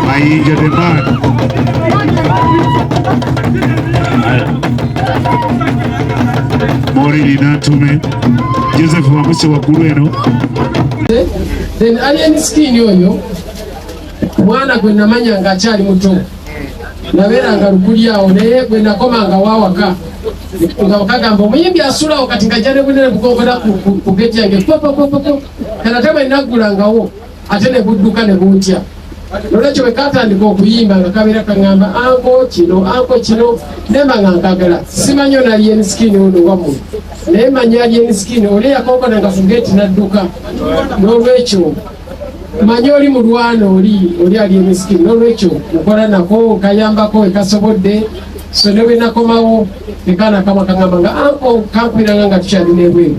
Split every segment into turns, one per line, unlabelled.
Mayinja the man. Morili Nantume Joseph Wamuse waggulu eno
then alien skin oyo mwana gwe namanya nga akyali muto nabeeranga lukuli awo naye gwe nakomanga wawaka nga okagamba omuyimbi asulawo kati nga jane bunene bukokera ku geti yange popopopopo kana te bwenaggulangawo ate ne budduka ne buntya nolwekyo bwe katandika okuyimba nga kabeera kaŋamba anko kino anko kino nemba nga nkagala simanyi ona alien skin ono wamu naye manyi alien skin oli eyakonkona nga fugeti nadduka nolwekyo manyi oli mulwana oli oli alien skin nolwekyo nkola nako nkayambako ekasobodde so ne bwenakomawo nekana kama kaŋamba nga anko kampiranga nga tukyalina ebweru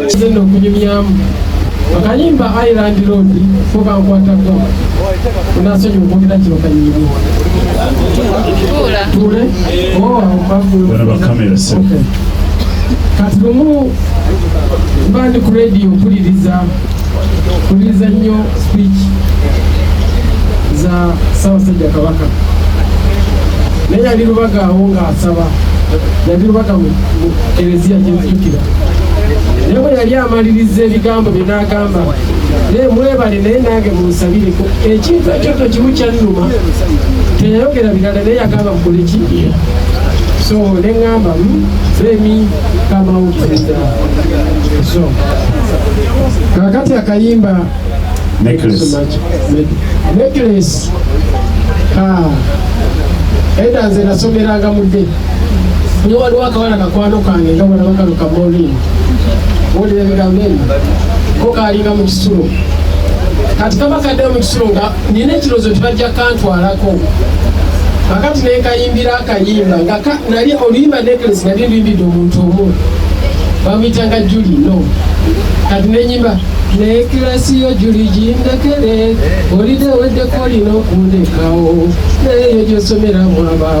Kigenda okunyumyamu akayimba Island Road fuba nkwatako unasonyi ukwogera kino kanyimbi tule oh, kati lumu mba ndi ku radio mpuliriza mpuliriza nnyo speech za Ssaabasajja Kabaka naye yali lubaga awo ng'asaba yali lubaga mu ereziya gyenzijukira ne bwe yali amaliriza ebigambo bye n'agamba naye mwebale naye nange munsabireko ekintu ekyo to kimu kyannuma teyayogera birala naye yagamba mukole ki so ne ŋŋamba femi kamawukiza so kakati akayimba necklace eda nze nasomeranga mudde ne waliwo akawala kakwano kange nga bwalaba kano kamoolini wulira ebigambo ebyo ko kaalinga mu kisulo kati kaba kaddeyo mu kisulo nga nina ekirowoozo tibajja kantwalako akati nenkayimbira akayimba nga nali oluyimba nekelesi nali luyimbidde omuntu omu bamuyitanga juli no kati nenyimba nekilasi yo juli jindekere olideweddekolina okundekawo naye yo gyosomera mwaba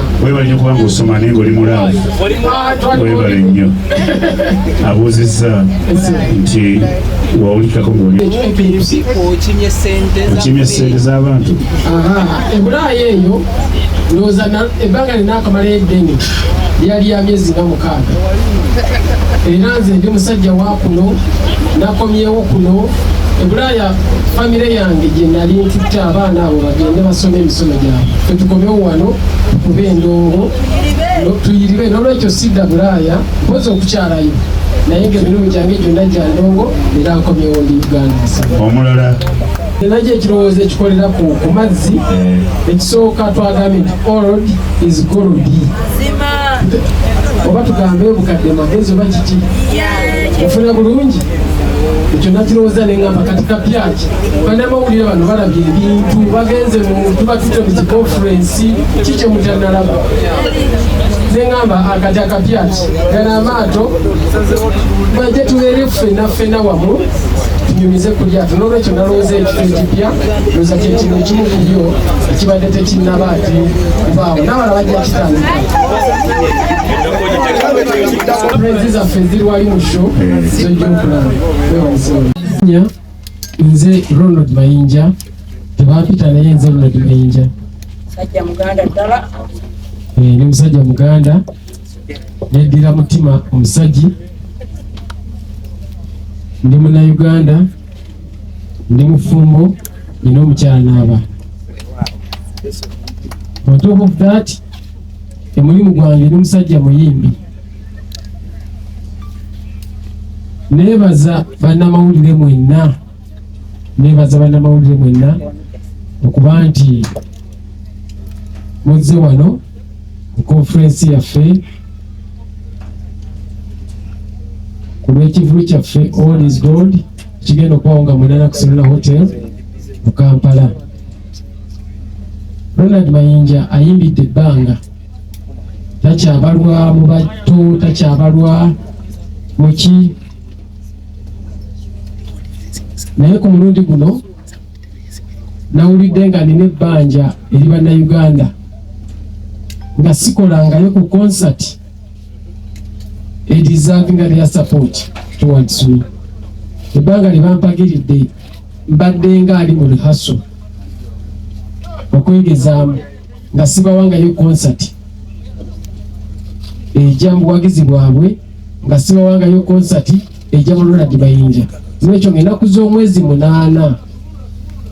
webale nyo kubanga osoma naye ngaoli mulaavu webale nnyo abuuzizza nti wawulikako ngaoliokimye sente z'abantu ebulaaya
eyo ndowooza ebbanga lina akamala eddene lyali ya myezi nga mukaaga era nze ndi musajja wa kuno nakomyewo kuno ebulaaya famire yange gye nali ntutte abaana abo bagende basome emisomo gyabwe fe tukomewo wano kuba endongo tuyiribe nolwekyo sidda bulaaya mpozi okukyalayo naye nga emirimu gyange gyonna gya ndongo era nkomyewo ndi uganda omulala
najo
ekirowoozo ekikolera ku mazzi eh. ekisooka twagambye nti old is gold oba tugambe obukadde magezi oba kiki ofuna bulungi ekyo nakirowooza ne ngamba kati kapyaki banamawulire bano balabye ebintu bagenze mu tuba tutebuzi conferensi ki kye mutanalaba ne ngamba akati akapyaki gano amaato baje tubeere ffena ffena wamu tunyumize ku lyato n'olwekyo nalowooza ekifo ekipya loza kyekino ekimu ku byo ekibadde tekinnaba ati kubaawo n'abala bajja kitandika nze Ronald Mayinja tebampita naye nze Ronald Mayinja musajja muganda ddala eh, ni musajja muganda neddira mutima omusajji ndi munauganda ndi mufumbo nina omukyala naaba on top of that omulimu gwange ndi musajja muyimbi nebaza bannamawulire mwenna nebaza bannamawulire mwenna okuba nti muzze wano ku konferensi yaffe ku lw'ekivulu kyaffe all is gold kigenda okubawo nga munana kusolona hotel mu kampala Ronald Mayinja ayimbidde ebbanga takyabalwa mu batto takyabalwa muki naye ku mulundi guno nawulidde nga nina ebbanja eri bannayuganda nga sikolangayo ku concert edizavinga their support towards me ebbanga lyebampagiridde mbaddenga ali mu rihaso okwegezaamu nga sibawangayo konsati eja mu buwagizi bwabwe nga sibawangayo konsati eja mu Ronald Mayinja n'ekyo ng'ennaku z'omwezi munaana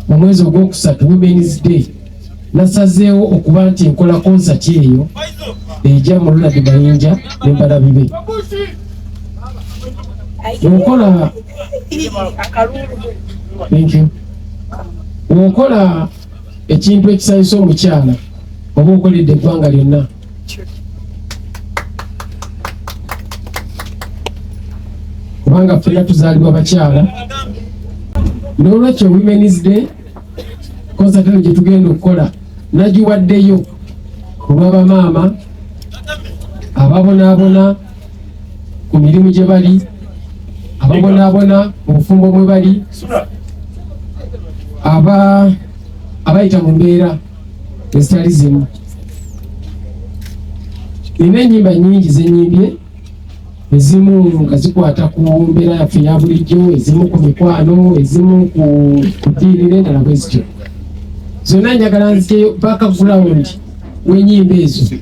mu mwezi ogwokusatu women's day nasazeewo okuba nti nkola konsati eyo eja mu Ronald Mayinja ne mbalabi be okola okola ekintu ekisanyusa omukyala oba okoledde eggwanga lyonna kubanga fena tuzaalibwa bakyala n'olwekyo women's day konsatano gye tugenda okukola nagiwaddeyo olw'abamaama ababonaabona ku mirimu gye bali ababonaabona mu bufumbo mwe bali abayita mu mbeera ezitali zimu nina ennyimba nyingi zenyimbye ezimu nga zikwata ku mbeera yaffe ya bulijjo ezimu ku mikwano ezimu ku ddiini n'endala bwe zityo zonna njagala nziteyo paka gulawundi wenyimba ezo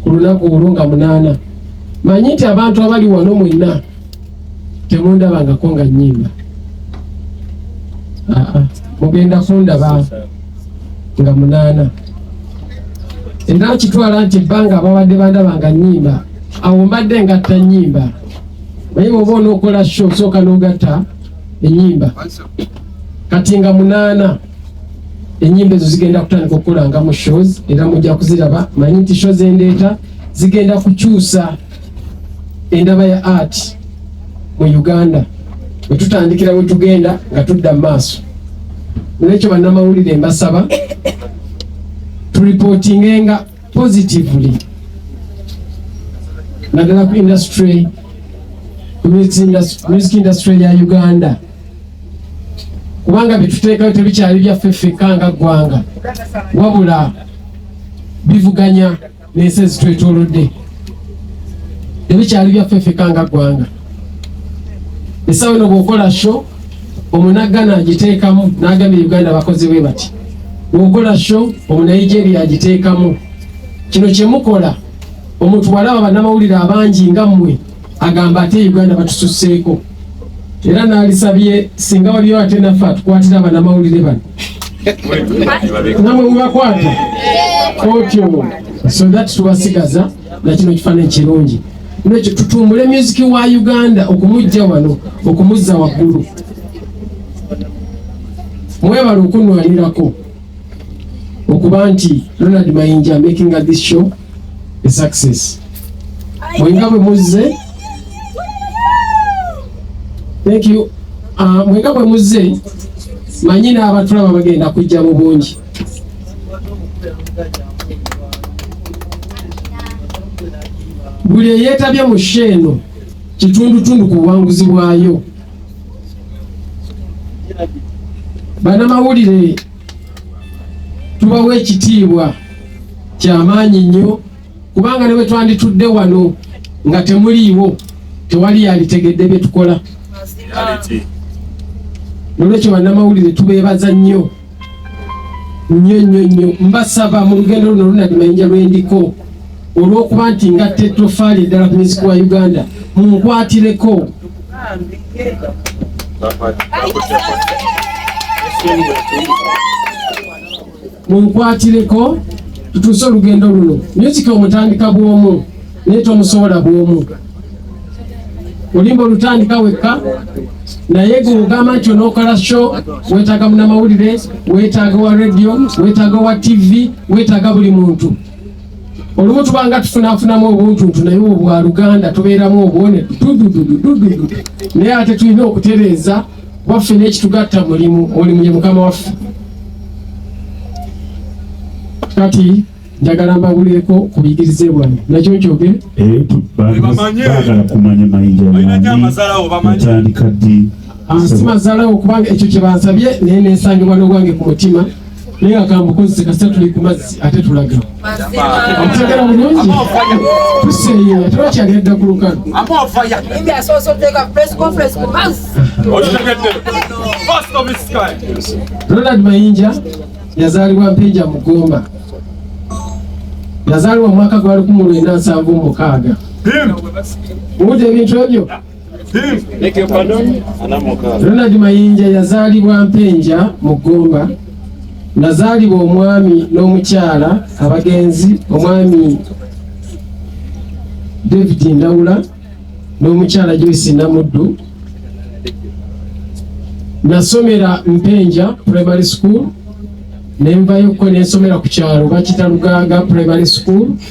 ku lunaku olwo nga munaana manyi nti abantu abali wano mwenna temundabangako nga nyimba mugenda kundaba nga munaana era okitwala nti ebbanga ababadde bandaba nga nyimba awo mbadde ngatta nyimba naye bwoba onokola sho osooka nogatta enyimba kati nga munaana enyimba ezo zigenda kutandika okukolanga mu shows era mujja kuziraba manyi nti shows endeeta zigenda kukyusa endaba ya art mu Uganda bwe tutandikira we tugenda nga tudda mu maaso. Olwekyo bannamawulire mbasaba tulipootingenga positively naddala ku industry music industry ya Uganda kubanga byetuteekayo tebikyali byaffe ffekka nga ggwanga wabula bivuganya n'ensi ezitwetoolodde tebikyali byaffe ffeka nga ggwanga esawa eno bwokola sho omunaggana agiteekamu n'agambye uganda bakozi bwe bati bwokola sho omunaigeria agiteekamu kino kyemukola omuntu walaba bannamawulire abangi nga mmwe Agamba ate Uganda batususseeko era naalisabye singa waliyo ate naffe atukwatira abanamawulire bano namwe mubakwata otyo so that tubasigaza nakino kifaananyi kirungi nekyo tutumbule musiki wa uganda okumujja wano okumuzza waggulu mwebala okunwanirako okuba nti ronald mayinja making this show e success mwenga bwe muzze thank you uh, mwenga bwe muzze manyi n'abatulaba bagenda kujja mu bungi buli eyeetabye mu sheeno kitundutundu ku buwanguzi bwayo banamawulire tubawa ekitiibwa kyamaanyi nnyo kubanga ne bwe twanditudde wano nga temuliiwo tewali yalitegedde bye tukola nolwekyo bannamawulire tubeebaza nnyo nnyo nnyo nnyo mbasaba mu lugendo luno lunadi mayinja lwendiko olw'okuba nti nga tettofaali eddala ku miziki wa uganda munkwatireko munkwatireko tutuuse olugendo luno nyo kika omutandika bwomu naye tomusobola bwomu olimba olutandika wekka naye gweogamba nti onokola sho wetaaga munamawulire wetaaga wa radio wetaaga wa tv wetaaga buli muntu olumu tubanga tufunafunamu obuntuntu naye obwa luganda tubeeramu obwone dudududududu naye ate tulina okutereeza waffe n'ekitugatta mulimu omulimu ye mukama waffe kati njagala mbabulireko ku biyigirize bwange nakyo nkyoge
eh, bagala kumanya mayinjaatandika ddi ansi mazalawo
kubanga ekyo kye bansabye naye nensangibwa n'obwange ku mutima naye akambukozese kasita tuli ku mazzi ate tulaga otegera bulungi tuseeyo ate bakyagera dda ku lukano ronald mayinja yazaalibwa mpinja mugomba yazaalibwa mwaka gwali ku mulwenda nsanvu mukaaga muwudde ebintu ebyo Ronald Mayinja yazaalibwa Mpenja mu Gomba nazaalibwa omwami n'omukyala abagenzi omwami David Ndawula n'omukyala Joyce Namuddu nasomera Mpenja primary school nenvayo ko nensomera ku kyalo bakita Luganga primary school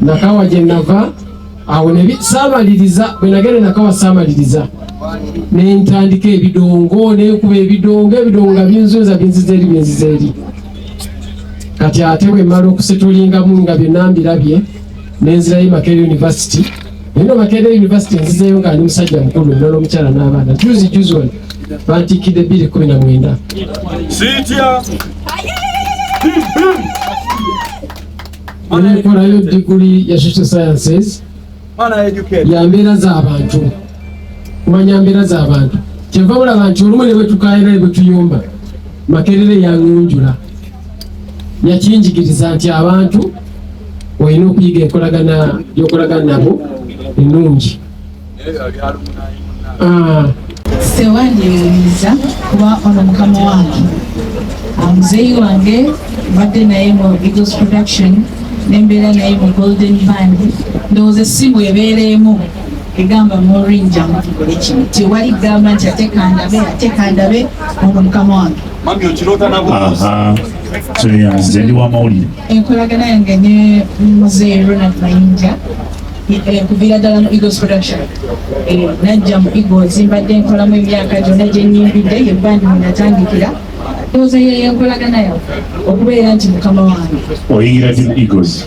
nakawa gye nava awo saamaliriza bwe nagenda nakawa saamaliriza ne ntandika ebidongo nenkuba ebidongo ebidongo nga binzunza binziza eri binziza eri kati ate bwe mmala okusitulingamu nga bye nambirabye nenzirayo makerere university Eno Makerere University nzizeeyo nga ndi musajja mukulu ndala omukyala n'abaana juzi juzi wano bantikkidde bbiri kumi na mwenda
sitya
nekolayo diguli ya social sciences ya mbeera z'abantu kumanya mbeera z'abantu kyeva bulaba nti olumu ne bwetukaera ne bwetuyomba makerere yangunjula yakinjigiriza nti abantu olina okuyiga enkolagana yokolagana nabo ennungi ah.
sewandiyiriza kuba ono mukama wange ah, muzeeyi wange mbadde naye mu eagles production nembeera naye mu golden band ndowooza essimu ebeera emu egamba morinja mutugole kino tewali gamba nti atekandabe atekandabe ono mukama wange Mami okirota
nabo. Aha. So
yeah, zendi wa mauli. Enkolagana yange ne
mzee Ronald Mayinja eh, kuviira ddala mu Eagles production eh, najja mu Eagles mbadde nkolamu emyaka gyonna gye nnyimbidde ye bandi mwe natandikira ndowooza yeyo enkolagana yawe okubeera nti mukama wange oyingira gye mu
Eagles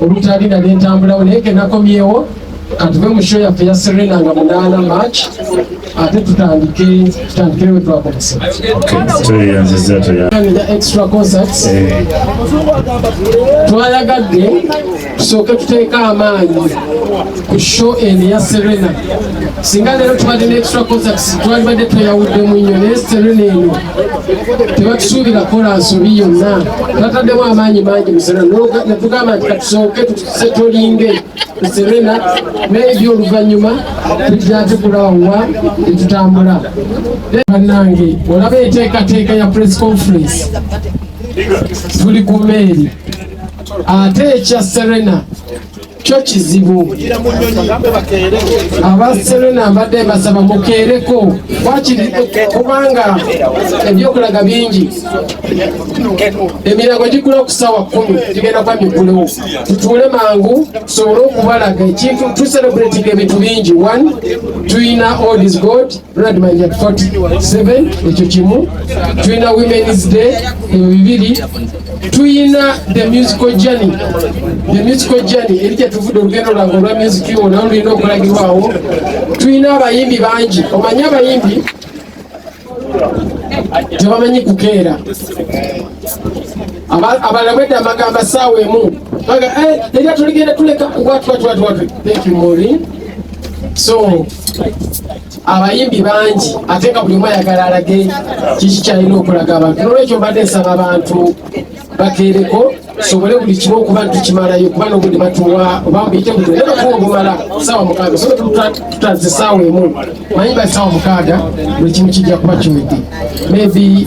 olutali nali ntambulawo naye kenakomyewo katuve mu show yaffe ya serena nga munaana march ate tutandike tutandikire we twakomesaeya extra concerts eh. twayagadde tusooke tuteeka amaanyi ku show eno ya Serena singa leero tubadde ne extra concerts twalibadde tweyawuddemu nnyo naye Serena eno tebatusuubira kola nsobi yonna twataddemu amaanyi mangi mu Serena netugamba nti katusooke tutolinge ku Serena maybe oluvannyuma tujja tukulawa tetutambula bannange olaba enteekateeka ya press conference tuli ku meeri ate ekya Serena kyo kizibu aba serena mbadde mbasaba mukeereko wakiri kubanga ebyokulaga bingi emirango gigula okusawa kumi gigenda kuba migulewo tutuule mangu tusobole okubalaga ekintu tuserebulatinga ebintu bingi one tulina odis god ronald manja 47 ekyo kimu tulina women's day ebyo bibiri tuyina the musical journey the musical journey eri gyetuvudde olugendo lwange olwa music wo nawe lulina okulagibwawo tuyina abayimbi bangi omanyi abayimbi tebamanyi kukeera abalala bwedda amagambo saawa emu baga eh, eri atuligenda tuleka watwatwatwatwe thank you mori so abayimbi bangi ate nga buli omu ayagala alage kiki kyalina okulaga abantu nolwekyo mbadde nsaba abantu bakeereko sobole buli kimu okuba nti kimalayo kuba nobuli batuwa oba mubiyite butyo naye batuwa obumala saawa mukaaga sobe tutaze saawa emu manyi ba saawa mukaaga buli kimu kijja kuba kiwedde maybe